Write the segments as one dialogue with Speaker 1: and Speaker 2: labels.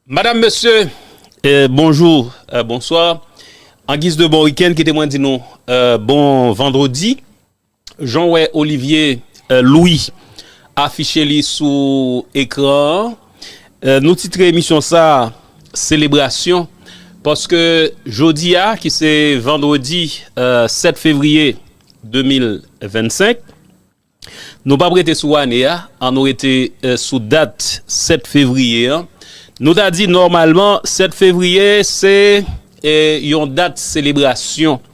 Speaker 1: Madame, Monsieur, bonjour, bonsoir. En guise de bon week-end, kite mwen di nou bon vendredi. Jan w wè Olivier Louis afiche li sou ekran an, nou titre emisyon sa a Selebrasyon paske jodi a ki se vandredi 7 fevriye 2025, nou pap rete sou ane a, an nou rete sou dat 7 fevriye an. Nou ta di nòmalman 7 fevriye se yon dat selebrasyon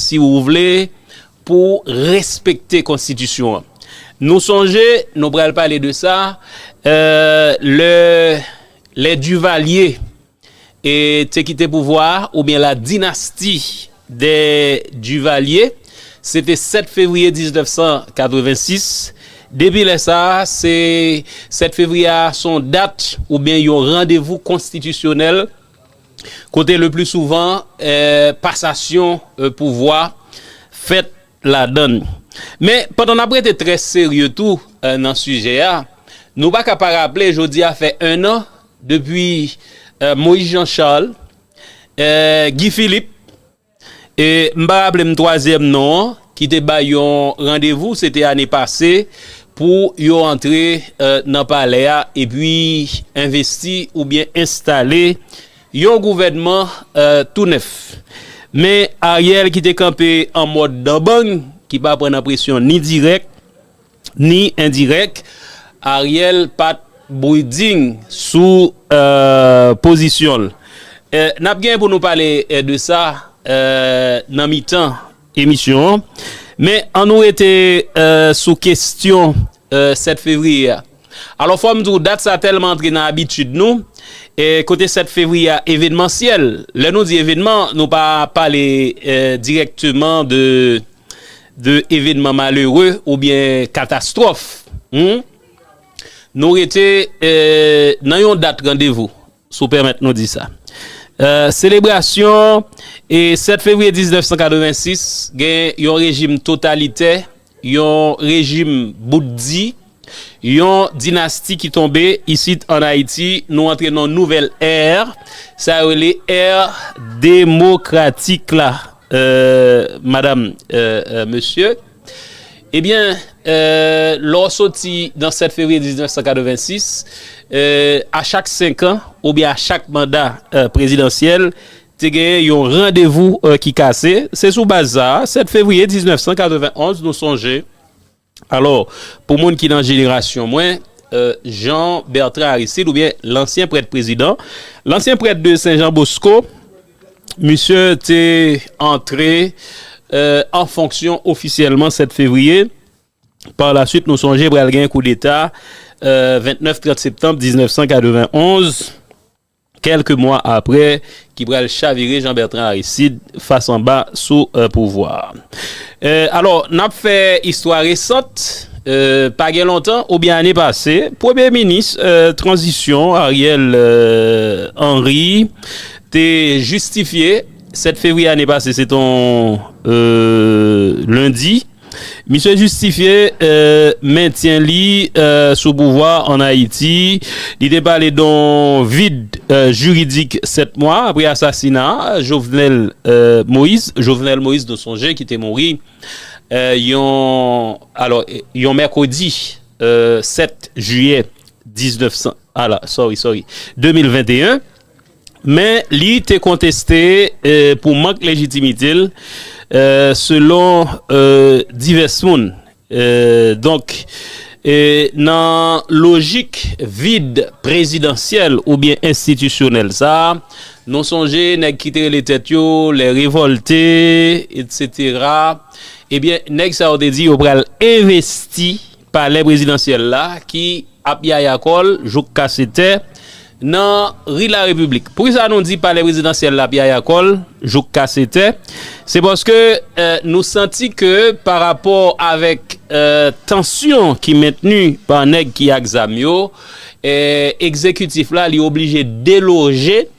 Speaker 1: si ou vle, pou respekte konstitisyon an. Nou sonje, nou pral pale de sa, lè lè Divalye te kite pouvwa a, oubyen la dinasti dè Divalye, se te 7 fevriye 1986, depi lè sa, se 7 fevriye a, son dat oubyen yon randevou konstitisyonèl, kote le pli souvan pasasyon pouvwa fèt ladann. Men, pandan n ap rete trè serye tou nan sijè a, nou pa ka pa raple jodi a fè ennan depi Moïse Jean Charles, Guy Philippe, E m pa raple m twazyèm non an ki te bay yon randevou se te ane pase pou yo antre nan palè a epi envesti oubyen enstale yon gouvènman tou nèf. Men Ariel ki te kanpe an mòd dan bang ki pa pran nan presyon ni dirèk. Ni endirèk, Ariel pat briding sou pozisyon l. Nap gen pou nou pale de sa nan mitan emisyon an. Men an nou rete sou kestyon 7 fevriye a. Alò fò m di w dat sa tèlman antre nan abitid nou, kote 7 fevriye a evenmansyèl. Lè nou di evenman nou pa pale dirèkteman de. de evenman malere oubyen katastwòf humm nou rete nan yon dat randevou si w pèmèt nou di sa selebrasyon 7 fevriye 1986 gen yon rejim totalitè yon rejim bout di. Yon dinasti ki tonbe isit an Ayiti, nou antre nan yon nouvèl è, sa yo rele è demokratik la madam, mesye. Ebyen, lè w soti nan 7 fevriye 1986, a chak senkan oubyen a chak manda prezidansyèl, te genyen yon randevou ki kase. Se sou baz sa a, 7 fevriye 1991, nou sonje. Alò, pou moun ki nan jenerasyon mwen, Jean Bertrand Aristide oubyen lansyen prèt prezidan, lansyen prèt de Sen Jan Bosko, misye te antre an fonksyon ofisyèlman 7 fevriye, pa la swit nou sonje pral gen koudeta 29-30 septanm 1991. kèlke mwa aprè, ki pral chavire Jean Bertrand Aristide fas anba sou pouvwa a. Alò, n ap fè istwa resant, pa gen lontan oubyen ane pase, premye minis tranzisyon Ariel Henry te jistifye, 7 fevriye ane pase, se te yon lendi, Misye jistifye mentyen li sou pouvwa an Ayiti. Li te pale don vid jiridik 7 mwa apre asasina Jovenel Moïse, Jovenel Moïse nou sonje ki te mouri yon mèkredi 7 jiyè 2021. Men li te konteste pou mank lejitimite l selon divès moun. Donk nan lojik vid prezidansyèl oubyen enstitisyonèl sa, nou sonje nèg ki te rele tèt yo les révoltés etc. Ebyen nèg sa yo te di yo pral envesti. Palè prezidansyèl la ki ap yaya kò l jouk kase tè nan ri Larepiblik. Poukisa nou di palè prezidansyèl la ap yaya kò l jouk kase tè? Se paske nou santi ke pa rapò avèk tansyon ki mentni pa nèg ki ak zam yo, egzekitif la li oblije deloje.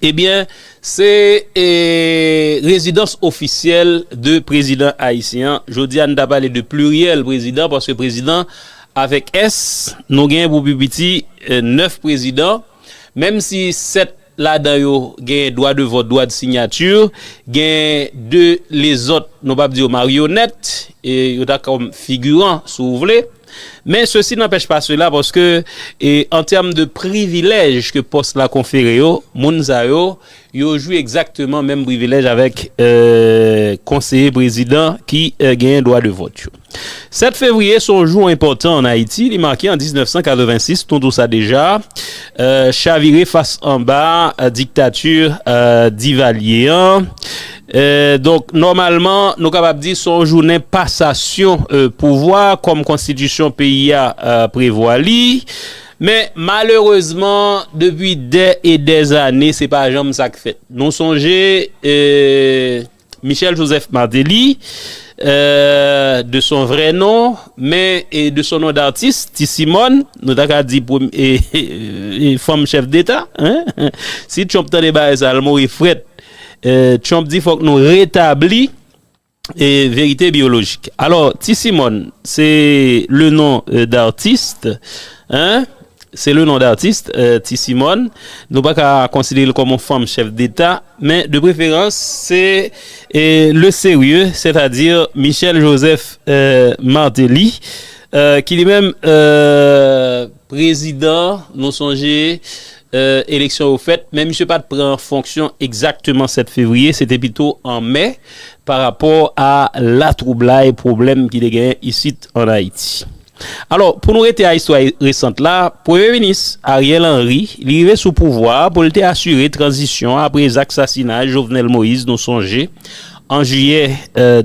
Speaker 1: Ebyen se rezidans ofisyèl de prezidan ayisyen an. Jodi a nou ta pale de pliryèl prezidan paske prezidan avèk s nou gen pou pi piti 9 prezidan menm si 7 ladan yo gen dwa de vòt, dwa de sinyati, gen 2 lezòt nou pap di yo maryonèt yo ta kòm figiran si w vle. Men sesi nanpèch pa sela paske an tèm de privilèj ke pòs la konfere yo, moun sa yo, yo jwi egzakteman menm privilèj avèk konseye prezidan ki genyen dwa de vòt yo. 7 fevriye se yon jou enpòtan an Ayiti, li make an 1986, nou tou sa deja, chavire fas anba diktati Divalye an. Donk, nòmalman, nou kapab di se yon jounen pasasyon pouvwa kòm konstitisyon peyi a prevwa li. Men, malerezman, depi dè e dè ane, se pa janm sa k fèt. Nou sonje Michel Joseph Martelly, de son vrè non, men de son non datis, Ti Simòn, nou ta ka di fanm chèf deta. Si Trump tande bagay sa a, l mouri frèt. Trump di fòk nou retabli verite biyolojik. Alò, Ti Simòn, se le non dartist, hein, se le non dartist, Ti Simòn. Nou pa ka konsidere l kòm yon fanm chèf deta, men de preferans se le serye, sètadi Michel Joseph Martelly, ki li menm, Prezidan, nou sonje eleksyon yo fèt, men misye pa t pran fonksyon egzakteman 7 fevriye, se te pito an me, pa rapò a latwoublay, pwoblèm ki te genyen isit ann Ayiti. Alò, pou nou rete a istwa resant la, Premye Minis Ariel Henry, li rive sou pouvwa a pou l te asire tranzisyon an apre zak sasinay Jovenel Moïse, nou sonje, an jiyè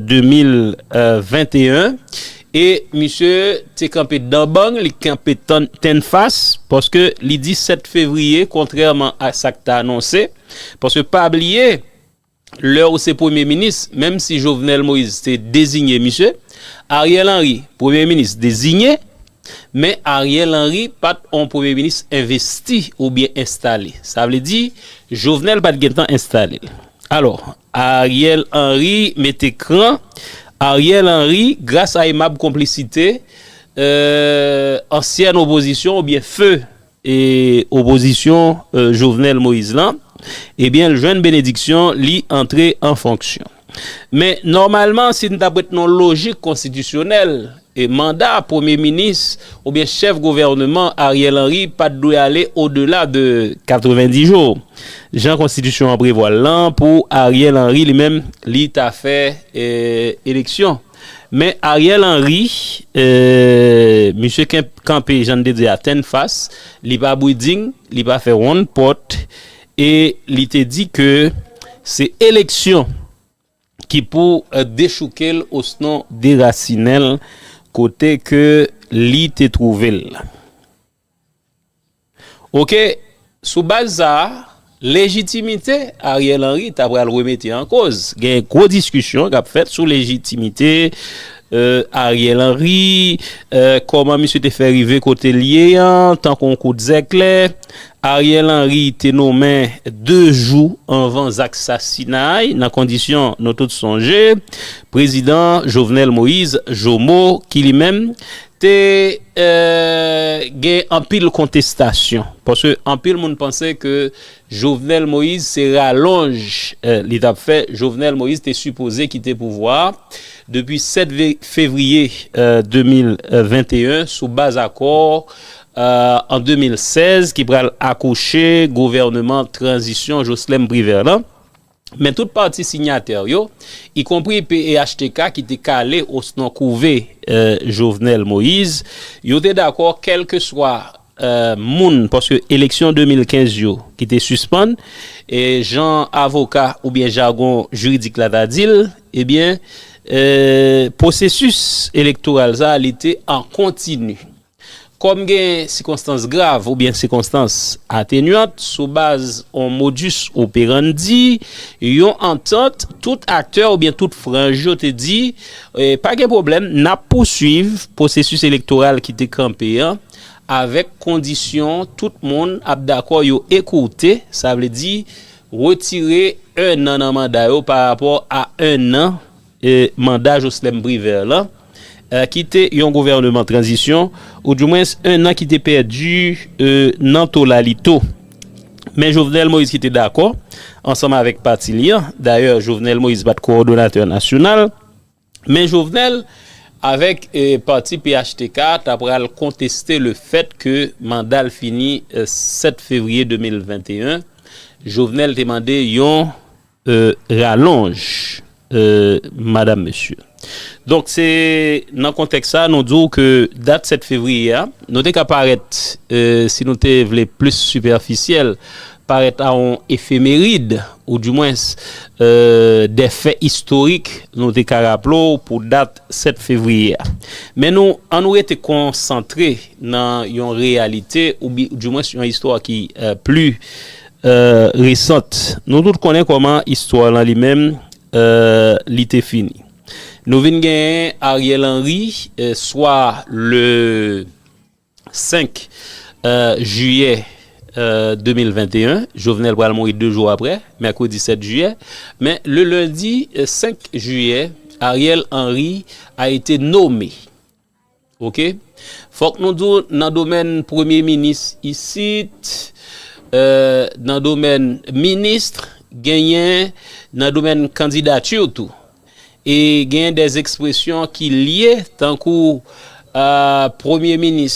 Speaker 1: 2021. E misye te kanpe dan bang, li kanpe tennfas, paske li di 7 fevriye, kontrèman a sa k te anonse, paske pa bliye, lè ou se premye minis, menm si Jovenel Moïse te dezinye misye, Ariel Henry, premye minis dezinye, men Ariel Henry pa t on premye minis envesti oubyen enstale, sa vle di, Jovenel pa t gentan enstale l. Alò, Ariel Henry mete kran. Ariel Henry gras a emab konplisite ansyèn opozisyon oubyen feu opozisyon Jovenel Moïse lan ebyen l jwenn benediksyon li antre an fonksyon. Men nòmalman si n ta p ret nan lojik konstitisyonèl E manda premye minis oubyen chèf gouvèneman Ariel Henry pa t dwe ale odela de 90 jou, jan konstitisyon an prevwa l lan pou Ariel Henry li menm li ta fè eleksyon. Men Ariel Henry, misye kanpe jan n te di a tennfas, li pa briding, li pa fè wonn pòt e li te di ke se eleksyon. ki pou dechouke l osnon derasinen l kote ke li te twouve l la. Oke, sou baz sa a, lejitimite Ariel Henry ta pral remete an koz. Gen gwo diskisyon k ap fèt sou lejitimite Ariel Henry, kòman misye te fè rive kote l ye an tankou yon kout zèklè. Ariel Henry te nonmen 2 jou anvan zak sasinay nan kondisyon nou tout sonje prezidan Jovenel Moise, Jomo, ki li menm te gen anpil kontestasyon paske anpil moun panse ke Jovenel Moise se ralonj li t ap fè Jovenel Moise te sipoze kite pouvwa a depi 7 fevriye 2021 sou baz akò an 2016 ki pral akouche gouvèneman tranzisyon Joslèm Privè lan, men tout pati sinyatè yo, ikonpri phtk ki te kale osnon kouve Jovenel Moïse, yo te dakò kèlkeswa moun, paske eleksyon 2015 yo ki te sispann, jan avoka oubyen jagon jiridik la ta di l, ebyen pwosesis elektoral sa li te an kontini. Kòm gen sikonstans grav oubyen sikonstans atenyant sou baz on modus operandi, yon antant, tout aktè oubyen tout franj yo te di, pa gen pwoblèm, n ap pousuiv pwosesis elektoral ki te kanpe an avèk kondisyon tout moun ap dakò yo ekourte, sa vle di retire ennan nan manda yo parapò a ennan. Manda Joslèm Privè lan ki te yon gouvèneman tranzisyon ou di mwens 1 an ki te pèdi nan tolalito. Men Jovenel Moïse ki te dakò ansanm avèk pati li an, dayè Jovenel Moïse pa t kowòdonatè nasyonal, men Jovenel avèk pati phtk a ta pral konteste le fèt ke manda l fini 7 fevriye 2021, Jovenel te mande yon. ralonj madam mesye. Donk se nan kontèks sa nou di w ke dat 7 fevriye a nou te ka parèt si nou te vle plis sipèfisyèl parèt a yon efemerid ou di mwens de fè istorik nou te ka raple w pou dat 7 fevriye a. Men nou an nou rete konsantre nan yon reyalite ou di mwens yon istwa ki pli Resant. Nou tout konnen kòman istwa lan li menm li te fini. Nou vin genyen Ariel Henry swa le 5 jiyè 2021. Jovenel pral mouri 2 jou aprè, mèkredi 7 jiyè. Men le lendi 5 jiyè, Ariel Henry a ete nome. Ok fok nou diw nan domèn premye minis isit nan domèn ministr genyen nan domèn kandidati tou e genyen des ekspresyon ki lye tankou premye minis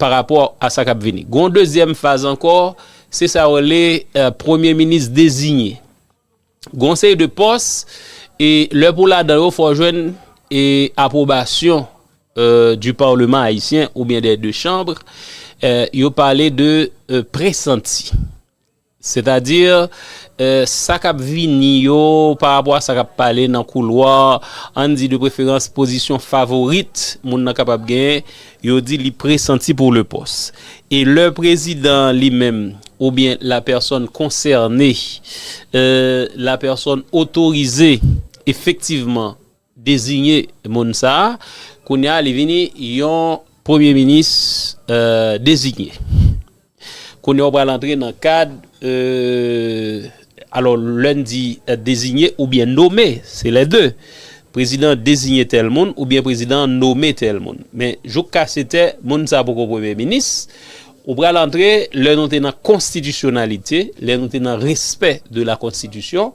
Speaker 1: parapò a sa k ap vini. Gen yon dezyèm faz ankò, se sa yo rele premye minis dezinye. Gen yon seri de pòs, e lè pou w ladan yo fò w jwenn apwobasyon di parleman ayisyen oubyen dè de chanbr, yo pale de presanti. Sètadi, sa k ap vini yo, parapò a sa k ap pale nan koulwa, ann di de preferans pozisyon favorit moun nan kapab genyen, yo di li presanti pou le pòs. E lè prezidan an li menm oubyen la pèsòn konsène, la pèsòn otorize efektivman, dezinye moun sa a, kounye a li vini yon premye minis dezinye. Kounye a ou pral antre nan kad, alò lè n di dezinye oubyen nome, se lè de, prezidan an dezinye tèl moun oubyen prezidan an nome tèl moun. Men jouk kasetè moun sa a poko premye minis, ou pral antre lè nou te nan konstitisyonalite, lè nou te nan respè de la konstitisyon.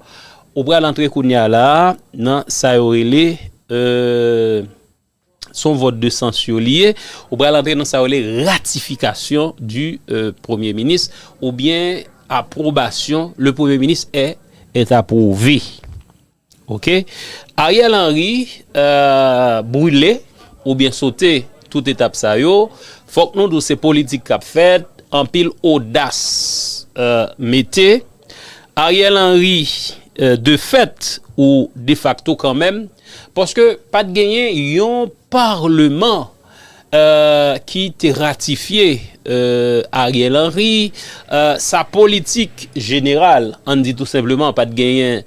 Speaker 1: Ou pral antre kounya la a nan sa yo rele, se yon vòt de sansyon li ye, ou pral antre nan sa yo rele ratifikasyon di premye minis oubyen apwobasyon, le premye minis è est approuvé. Ok. Ariel Henry brule oubyen sote tout etap sa yo, fòk nou di w se politik k ap fèt, anpil odas mete. Ariel Henry de fèt ou de fakto kanmenm paske pat genyen yon parleman ki te ratifye Ariel Henry sa politik jeneral an di tou senpleman pat genyen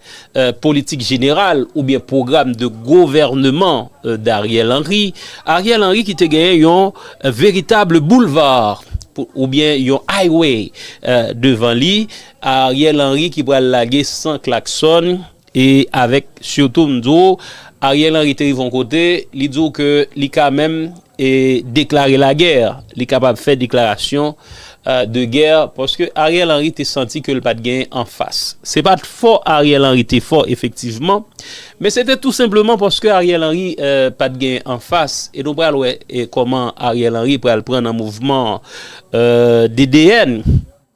Speaker 1: politik jeneral oubyen pwogram de govèneman d'Ariel Henry, Ariel Henry ki te genyen yon veritable boulevard oubyen yon highway devan li, Ariel Henry ki pral lage san klaksòn e avèk sitou m di w Ariel Henry te rive yon kote li di w ke li ka menm e deklare lagè, li kapab fè deklarasyon de gè paske Ariel Henry te santi ke l pat genyen anfas. Se pat fo Ariel Henry te fo efektivman, men se te tou senpleman paske Ariel Henry pat genyen anfas e nou pral wè kòman Ariel Henry pral pran nan mouvman DDN.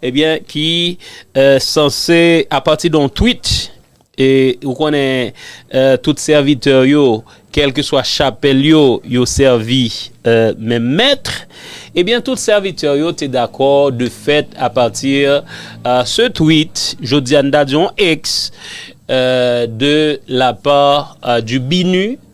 Speaker 1: Ebyen ki sanse apati de yon tweet e ou konnen tout sèvitè yo kèlkeswa chapèl yo yo sèvi menm mèt ebyen tout sèvitè yo te dakò de fèt apati se tweet jodi a n ta di yon ex de la pa di BINUH.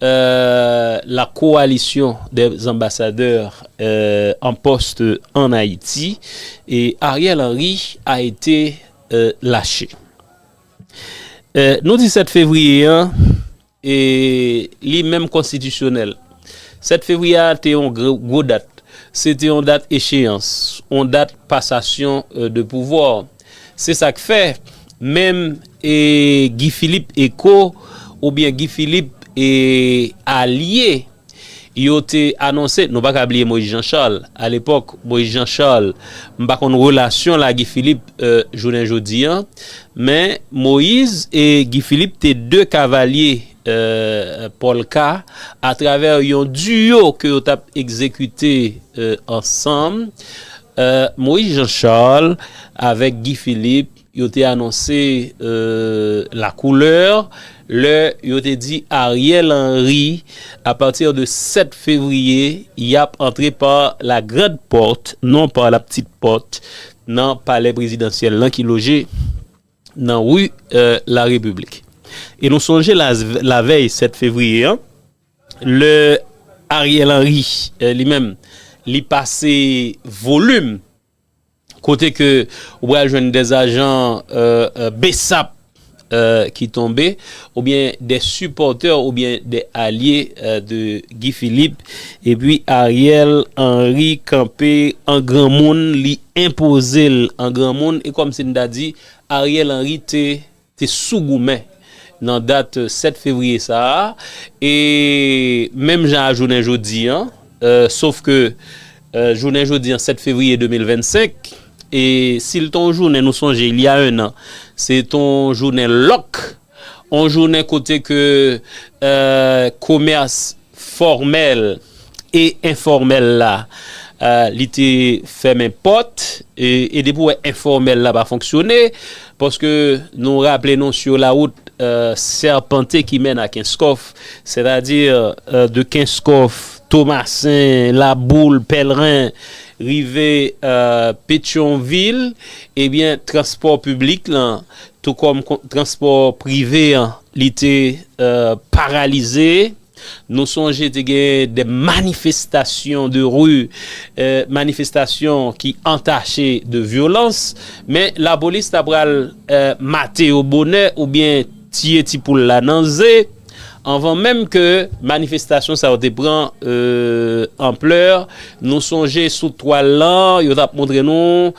Speaker 1: La Coalition des Ambassadeurs en poste en Haïti et Ariel Henry a été lâché. Nou di 7 fevriye an, li menm konstitisyonèl. 7 fevriye a te yon gwo dat. Se te yon dat echeyans, yon dat pasasyon de pouvwa. Se sak fè menm e Guy Philippe e ko ou byen Guy Philippe e alye yo te anonse nou pa ka bliye Moïse Jean Charles a lepòk Moïse Jean Charles m pa konn relasyon l a Guy Philippe jounen jodi an men Moïse e Guy Philippe te 2 kavalye pòlka atravè yon duo ke yo tap egzekite ansanm Moïse Jean Charles avèk Guy Philippe yo te anonse la couleur lè yo te di Ariel Henry a partir de 7 février yap antre par la grande porte non par la petite porte nan palè prezidansyèl lan ki loje nan rue la République e nou sonje la vèy 7 février an Lè Ariel Henry li menm li pase volume kote ke ou pral jwenn des ajan bsap ki tonbe ou byen des supporteurs ou byen des alye de Guy Philippe epi Ariel Henry kanpe an granmoun li enpoze l an granmoun e kòm si n ta di Ariel Henry te te sou goumen nan dat 7 fevriye sa a e menm jan a jounen jodi an sof ke jounen jodi an 7 fevriye 2025 e si l te yon jounen nou sonje il y a un an se te yon jounen lòk yon jounen kote ke komès fòmèl e enfòmèl la li te fèmen pòt e depi w wè enfòmèl la pa fonksyone paske nou raple nou sur la route serpentée qui mène à Kenskòf sètadi de Kenskòf Tomasen Laboul Pèlren rive Petyonvil ebyen transpò piblik lan tou kòm transpò prive an Li te paralize. Nou sonje te gen de manifestasyon de ri, manifestasyon ki antache de vyolans. Men lapolis ta pral mate yo bonè oubyen tiye ti poul la nan ze anvan menm ke manifestasyon sa yo te pran anplè. Nou sonje sou twal lan yo t ap montre nou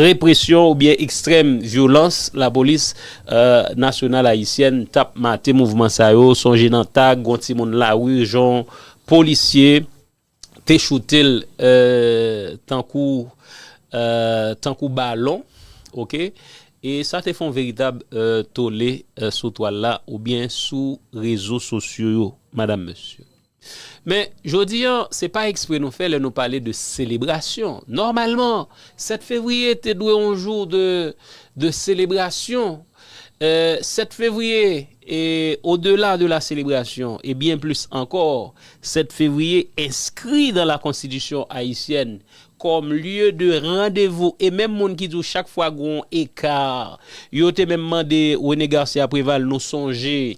Speaker 1: represyon oubyen ekstrèm vyolans lapolis. nasyonal ayisyèn tap mate mouvman sa yo sonje nan tag gon timoun lari jon polisye te choutel tankou tankou balon ok e sa te fon veritab tole sou twal la oubyen sou rezo sosyo yo madam mesye. Men, jodi an, se pa ekspre nou fè lè nou pale de selebrasyon. Nòmalman, 7 fevriye te dwe yon jou de selebrasyon. 7 fevriye, e odela de la selebrasyon, e byen plis ankò, 7 fevriye enskri dan la konstitisyon ayisyèn kòm lye de randevou. E menm moun ki di w chak fwa gen yon eka, yo te menm mande René Garcia Préval nou sonje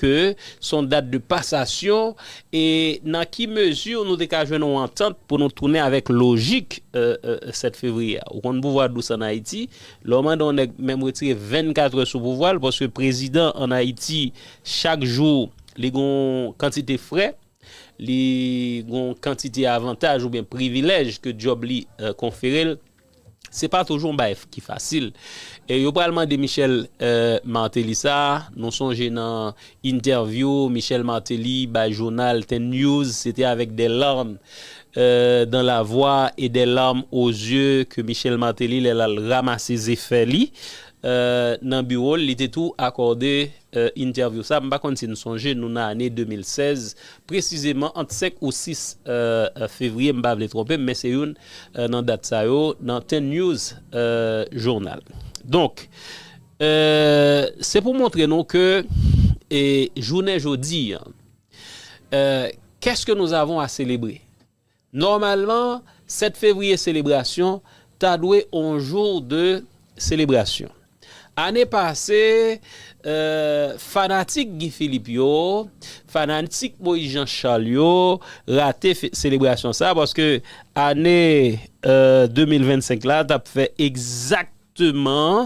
Speaker 1: Ke s on dat de pasasyon e nan ki mezi nou te ka jwenn on antant pou nou tounen avèk lojik 7 fevriye a. Ou konn pouvwa dous an Ayiti, lè w mande on nèg menm retire 24 è sou pouvwa l paske prezidan an Ayiti chak jou li gen on kantite frè, li gen on kantite avantaj oubyen privilèj ke dyòb li konfere l. Se pa toujou yon bagay ki fasil. E yo pral mande Michel Martelly sa, nou sonje nan entèvyou Michel Martelly bay jounal Ten News, se te avèk des larmes dans la voix et des larmes aux yeux ke Michel Martelly lè l al ramase zefè li nan biwo l, li te tou akòde Ee interview sa, m pa konn si n sonje, nou nan ane 2016, presizeman ant 5 ou 6 fevriye, m pa vle twonpe m, men se youn nan dat sa yo, nan Ten News Journal. Donk, se pou montre nou ke jounen jodi, Qu'est-ce que nous avons à célébrer? Nòmalman, 7 fevriye selebrasyon ta dwe on jou de selebrasyon. Ane pase, fanatik Guy Philippe yo, fanatik Moïse Jean Charles yo rate selebrasyon sa paske ane 2025 la t ap fè egzakteman. Exacteman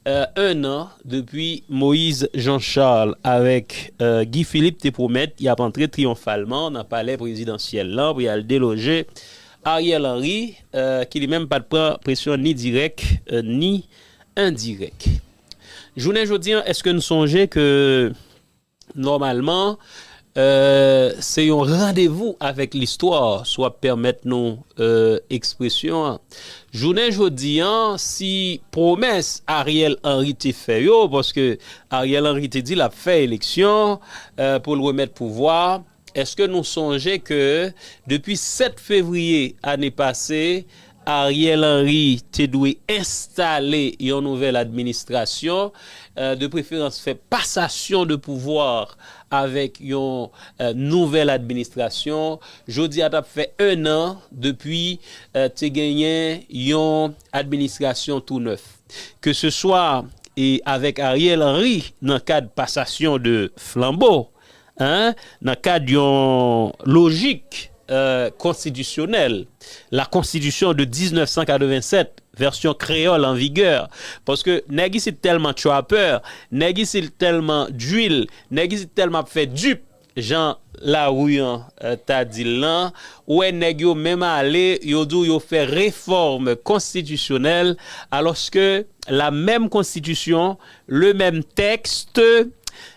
Speaker 1: 1 an depi Moise Jean Charles avèk Guy Philippe te pwomèt y ap antre triyonfalman nan palè prezidansyèl lan pou y al deloje Ariel Henry ki li menm pa t pran presyon ni dirèk ni endirèk. Jounen jodi an èske n sonje ke. Nòmalman, se yon randevou avèk listwa, si w ap pèmèt nou ekspresyon an. Jounen jodi a, si pwomès Ariel Henry te fè yo, paske Ariel Henry te di l ap fè eleksyon pou l remèt pouvwa a, Eske nou sonje ke depi 7 fevriye ane pase, Ariel Henry te dwe enstale yon nouvèl administrasyon, de preferans fè pasasyon de pouvwa avèk yon nouvèl administrasyon. Jodi a t ap fè 1 an depi te genyen yon administrasyon tou nèf. Ke se swa avèk Ariel Henry nan kad pasasyon de flanbo, I. Nan kad yon lojik konstitisyonèl, la Constitution de 1987, vèsyon kreyòl an vigè, paske nèg isit tèlman trapè, nèg isit tèlman drill, nèg isit tèlman ap fè dupe, jan lari an ta di l lan, ou wè nèg yo menm ale, yo di w yo fè refòm konstitisyonèl, alòske la menm konstitisyon, le menm texte,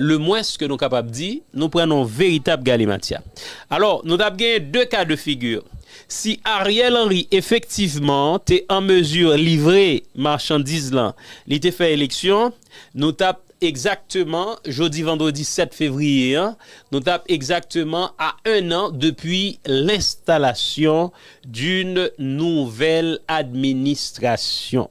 Speaker 1: Le mwens ke nou kapab di, nou pran nan yon veritab galimatya. Alò, nou t ap genyen 2 ka de figi. Si Ariel Henry efektivman te an mezi livre machandiz lan, li te fè eleksyon, nou t ap egzakteman, jodi vandredi 7 fevriye an, nou t ap egzakteman a 1 an depi lenstalasyon d'un nouvèl administrasyon.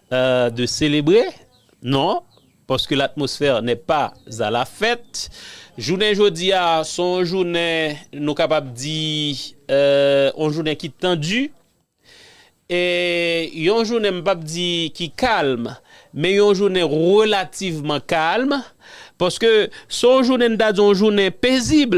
Speaker 1: de selebre non paske latmosfè nè pa a la fèt jounen jodi a se yon jounen nou kapab di yon jounen ki tandi e yon jounen m pap di ki kalm men yon jounen relativman kalm paske se yon jounen n ta di yon jounen pezib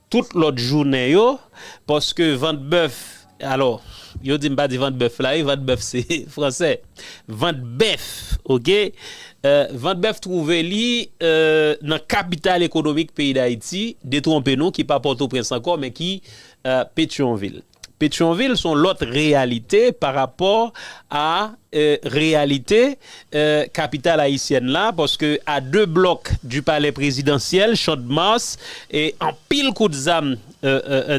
Speaker 1: Tout lòt jounen yo, paske vant bèf, alò, yo di m pa di vant bèf la wi, vant bèf se fransè, vant bèf, oke, vant bèf twouve li nan kapital ekonomik peyi Dayiti, detwonpe nou ki pa Pòtoprens ankò men ki Petyonvil. Petyonvil son lòt reyalite pa rapò a reyalite kapital ayisyèn la paske a 2 blòk di palè prezidansyèl Champ-de-Mars anpil kout zam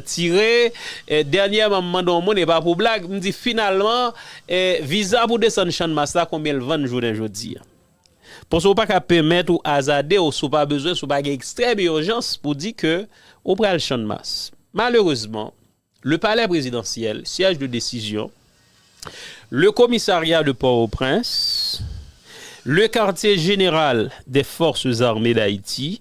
Speaker 1: tire. Dènyèman m mande yon moun e pa pou blag m di finalman viza pou desann Chanmas la konbyen l vann jounen jodi a. Paske ou pa ka penmèt ou azade w si w pa bezwen, si w pa gen ekstrèm irjans pou di ke ou pral Channmas. Malerezman, le palè prezidansyèl, siège de décision, le commissariat de Port-au-Prince, le quartier général des forces armées d'Haïti,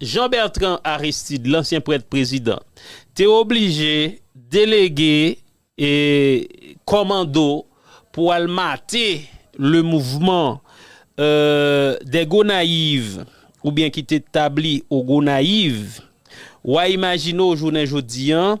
Speaker 1: Jean Bertrand Aristide, lansyen prèt prezidan, te oblije delege kòmando pou al mate le mouvman des Gonaïves oubyen ki te tabli au Gonayiv. Wa imajine w jounen jodi an.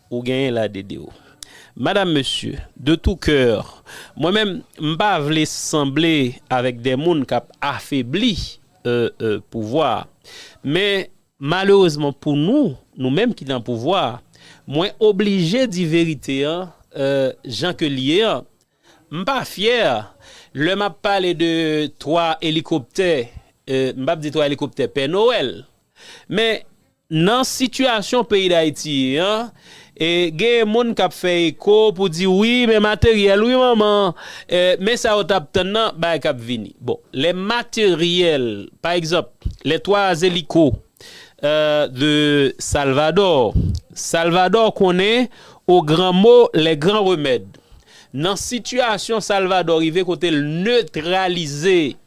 Speaker 1: Ou genyen la DD ou. Madame mesye de tou keur mwen menm m pa vle sanble avek de moun kap afebli pouvwa men malerezman pou nou nou menm ki nan pouvwa mwen oblije di verite an jan ke l ye an m pa fyè lè map pale de 3 elikoptè m pap di 3 elikoptè pè nowèl men Nan sitiyasyon peyi Dayiti ye an, genyen moun k ap fè eko pou di wi men materyèl wi manman, men sa yo t ap tann nan, bagay k ap vini. Bon, lè materyèl, pa egzanp, lè 3 Zeliko de Salvadò, Salvadò konnen o gran mo lè gran remèd. Nan sitiyasyon Salvadò rive kote l netralize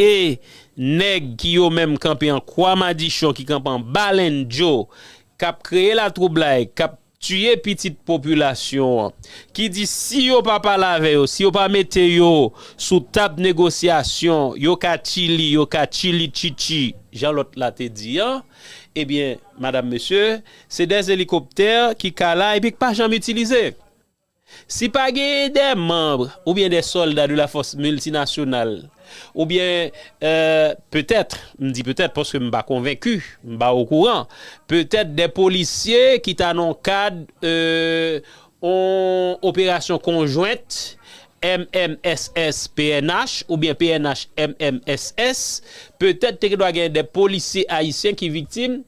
Speaker 1: E nèg ki yo menm kanpe an kwa madichon ki kanpe an ba lendjo kap kreye latwoublay kap tiye pitit popilasyon an ki di si yo pa pale avè yo si yo pa mete yo sou tab negosyasyon yo ka chili yo ka chili chichi jan lòt la te di an ebyen madam mesye se 2 elikoptè ki ka la epi k pa janm itilize. Si pa genyen dè manbre oubyen dè solda de la fòs miltinasyonal oubyen petèt, m di petèt paske m pa konvenki, m pa okouran, petèt dè polisye ki ta nan kad on operasyon konjwent MMSS-pnh oubyen pnh-MMSS, petèt te gen dwa genyen dè polisye ayisyen ki viktim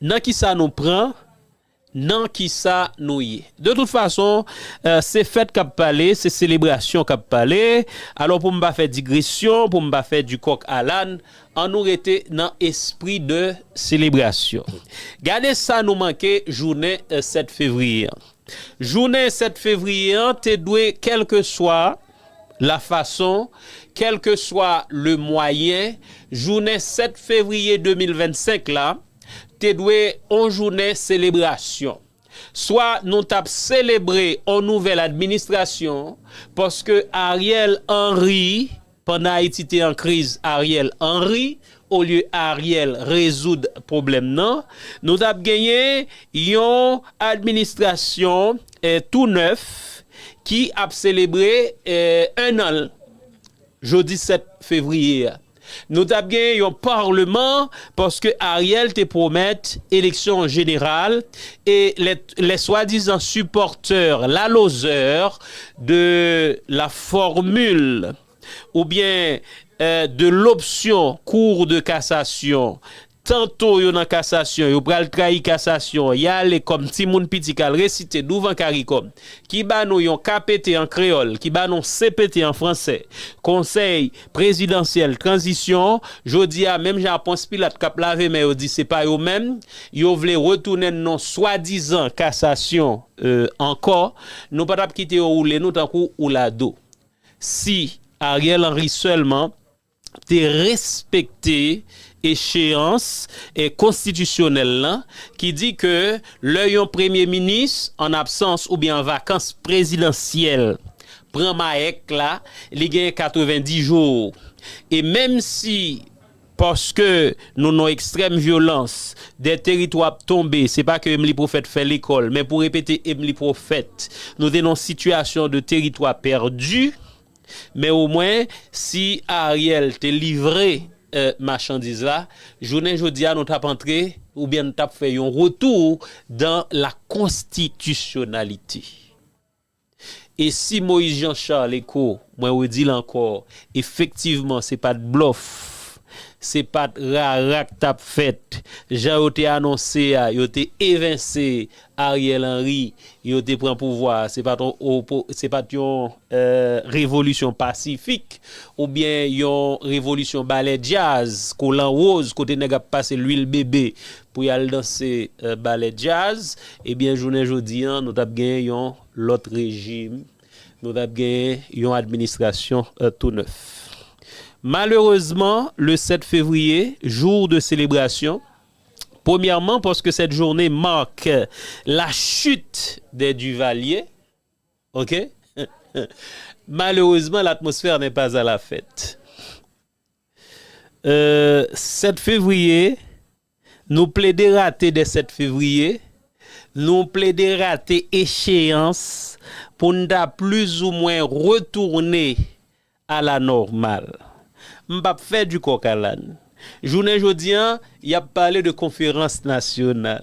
Speaker 1: Nan ki sa nou pran? Nan ki sa nou ye? De tout fason, se fèt k ap pale, se selebrasyon k ap pale. Alò, pou m pa fè digresyon, pou m pa fè di kòk a làn, an nou rete nan espri de selebrasyon. Gade sa nou manke jounen 7 fevriye an. Jounen 7 fevriye an te dwe kèlkeswa. La fason, kèlkeswa le mwayen, jounen 7 fevriye 2025 la te dwe on jounen selebrasyon. Swa nou t ap selebre on nouvèl administrasyon, paske Ariel Henry, pandan Ayiti te an kriz, Ariel Henry, Olye Ariel rezoud pwoblèm nan, nou t ap genyen yon administrasyon tou nèf ki ap selebre ennan l jodi 7 fevriye a. Nou t ap genyen yon parleman paske Ariel te pwomèt eleksyon jeneral e les soi-disant supporteurs la lozè de la formule. Oubyen de l opsyon Cour de cassation, tanto yo nan kasasyon, yo pral trayi kasasyon, y ale kòm timoun piti k al resite douvan caricom, ki ba nou yon KPT an kreyòl, ki ba nou CPT an franse, Konsèy Prezidansyèl Tranzisyon, jodi a menm jan ak Pons Pilat k ap lave men yo di se pa yo menm, yo vle retounen n nan swadizan kasasyon ankò, nou pa t ap kite yo woule nou tankou oulado. Si Ariel Henry sèlman te respekte echeyans konstitisyonèl lan ki di ke lè yon premye minis an absans oubyen an vakans prezidansyèl pran mayèk la li gen 90 jou e menm si Paske nou nan ekstrèm vyolans, dè teritwa ap tonbe, se pa ke Emli Pwofèt fè lekòl, men pou repete Emli Pwofèt, nou te nan sitiyasyon de teritwa pèdi, men omwen, si Ariel te livre machandiz la, jounen jodi a nou t ap antre, oubyen nou t ap fè yon retou dan la konstitisyonalite. E si Moïse Jean Charles Eko, mwen redi l ankò, efektivman se pa t blòf, se pa t rara k t ap fèt, jan yo te anonse a, yo te evense Ariel Henry, yo te pran pouvwa a, se pa t yon opo, se pa t yon revolisyon pasifik, oubyen yon revolisyon balè djaz, kolan woz, kote nèg ap pase lwil bebe pou y al danse balè djaz, ebyen jounen jodi an nou t ap gen yon lòt rejim, nou t ap gen yon administrasyon tou nèf. Malerezman, le 7 fevriye, jour de selebrasyon, premyèman paske sèt journe marque la chute des Duvaliers, ok, malerezman l'atmosphère n'est pas à la fête. 7 fevriye, Nou plede rate dè 7 fevriye, nou plede rate echeyans pou n ta plizoumwen retounen a la nòmal. M pap fè di kòk a làn. Jounen jodi an, y ap pale de konferans nasyonal.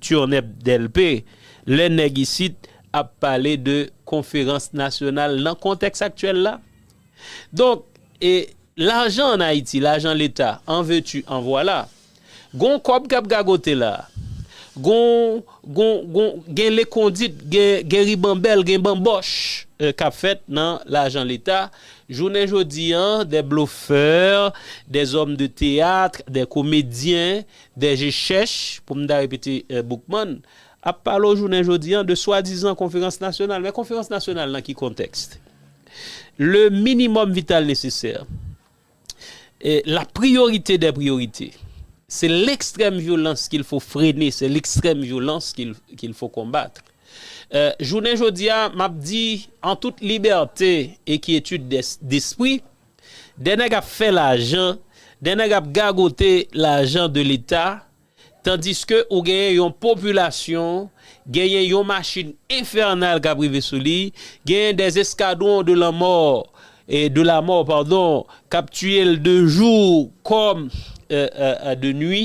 Speaker 1: Turneb Delpe, Lè nèg isit ap pale de konferans nasyonal nan kontèks aktyèl la, donk e lajan an Ayiti, lajan leta, an ve tu an vwala, gon kòb k ap gagote la, gon, gon, gon, gen lekondit, gen, gen ribanbèl, gen banbòch k ap fèt nan lajan leta, jounen jodi an, des bluffeurs, des hommes de théâtre, des comédiens, Dè je chèch, pou m ta repete Boukman, ap pale w jounen jodi an de swadizan konferans nasyonal. Men konferans nasyonal nan ki kontèks? Le minimòm vital nesesè, la priyorite dè priyorite, se lekstrèm vyolans ki l fo frene, se lekstrèm vyolans ki l fo konbat. Jounen jodi a, m ap di an tout libète e kyetid despri, Des nèg ap fè lajan, des nèg ap gagote lajan de leta, tandiske ou genyen yon popilasyon, genyen yon machin enfènal kap rive sou li, genyen des escadrons de la mort, de la mort pardon, kap tiyel de jou kòm de nwi,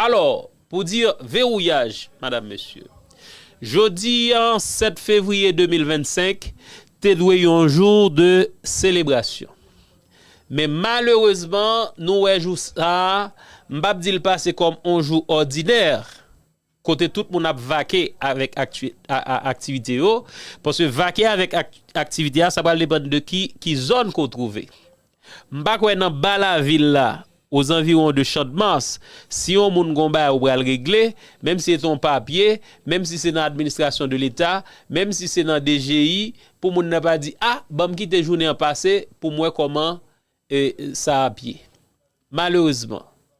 Speaker 1: Alò, pou dire vewouyaj, madam, mesye, jodi an 7 fevriye 2025 te dwe yon jou de selebrasyon. Men malerezman nou wè jou sa a, m pap di l pase kòm on jou òdinè, kote tout moun ap vake avèk aktivite yo, paske vake avèk aktivite a sa pral depann de ki zòn ke w twouve. M pa kwè nan ba lavil la, o zanviwon de Chandmas, si yon moun gon bagay ou pral regle, menm si se te yon papye, menm si se nan administrasyon de leta, menm si se nan DGI, pou moun nan pa di a, ban m kite jounen an pase pou m wè kòman sa ap ye. Malerezman.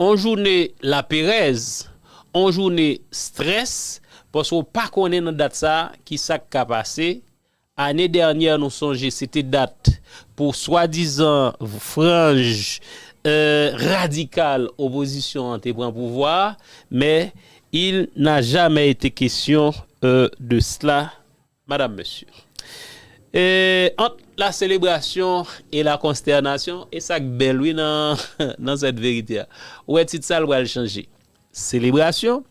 Speaker 1: On joune laperèz, on joune strès paske w pa konnen nan dat sa ki sa k ka pase, ane dènyè nou sonje se te dat pou swadizan franj radikal opozisyon an te pran pouvwa a, men il n'a jamais été question de cela. Madam, Mesye. E ant la selebrasyon e la konstènasyon, e sa k bèl wi nan sèt verite a. Ou wè tit sa l pral chanje. Selebrasyon,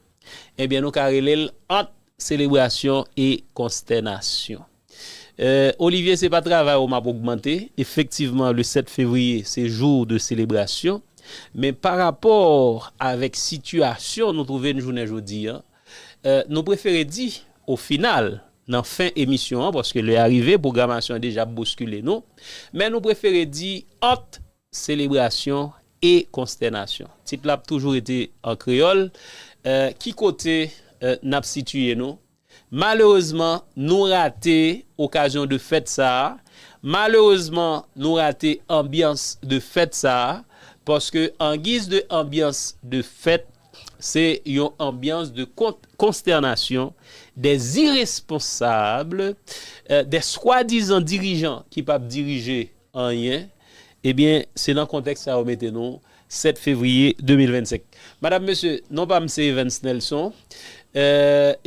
Speaker 1: ebyen nou ka rele l ant selebrasyon e konstènasyon. E Olivye se pa travay ou m ap ogmante, efektivman le 7 fevriye se jou de selebrasyon, men pa rapò avèk sitiyasyon nou twouve n jounen jodi an, Nou prefere di, o final, nan fen emisyon an, paske lè a rive, pwogramasyon an deja ap bouskile nou, men nou prefere di, ant selebrasyon e konstènasyon. Tit la ap toujou rete an kreyòl. Ki kote n ap sitiye nou? Malerezman, nou rate okazyon de fèt sa a. Malerezman, nou rate anbyans de fèt sa a. Paske angiz de anbyans de fèt, Se yon anbyans de konstènasyon, de ziresponsab, de swadizan dirijan ki pap dirije anyen, ebyen se nan kontèks sa yo mete nou 7 fevriye 2025. Madam, mesye, non pa m se Evens Nelson,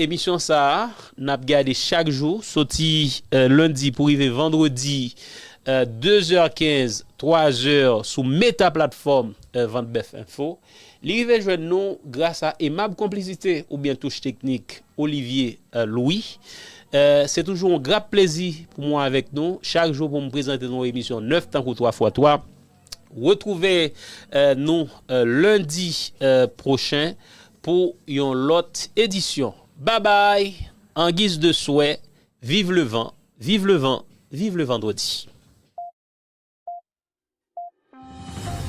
Speaker 1: emisyon sa a n ap gade chak jou soti lendi pou rive vandredi 2 zè 15, 3 zè sou meta platfòm Vantbèf Enfo. Li rive jwenn nou gras a emab konplisite oubyen touch teknik Olivier Louis. Se toujou yon grap plezi pou mwen avèk nou chak jou pou m prezante nou yon emisyon nèf tankou 3 fwa 3. Retwouve nou lendi pwochen pou yon lòt edisyon. Babay! Angiz de swè, viv levan, viv levan, viv levandredi!